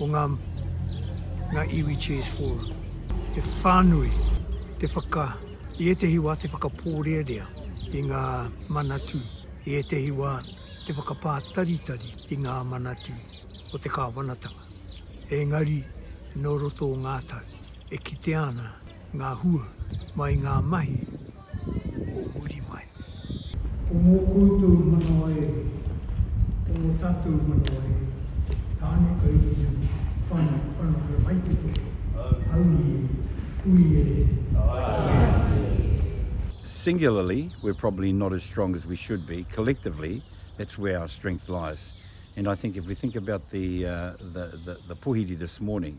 o ngā ngā iwi Chairs Forum. He whānui te whaka, i ētehi wā te whakapōrearea i ngā manatū, i ētehi wā te whakapātaritari i ngā manatū o te kāwanatanga. Engari, nō roto o ngā tau, e kitea ana ngā hua mai ngā mahi, o muri mai. Ko ngō koutou manawa e, ko ngō tātou manawa e, tāne kai ringa, whana, whana kai whaipito, haumi e, hui e, haere e. Singularly, we're probably not as strong as we should be, collectively, that's where our strength lies. And I think if we think about the, uh, the, the, the puhiri this morning,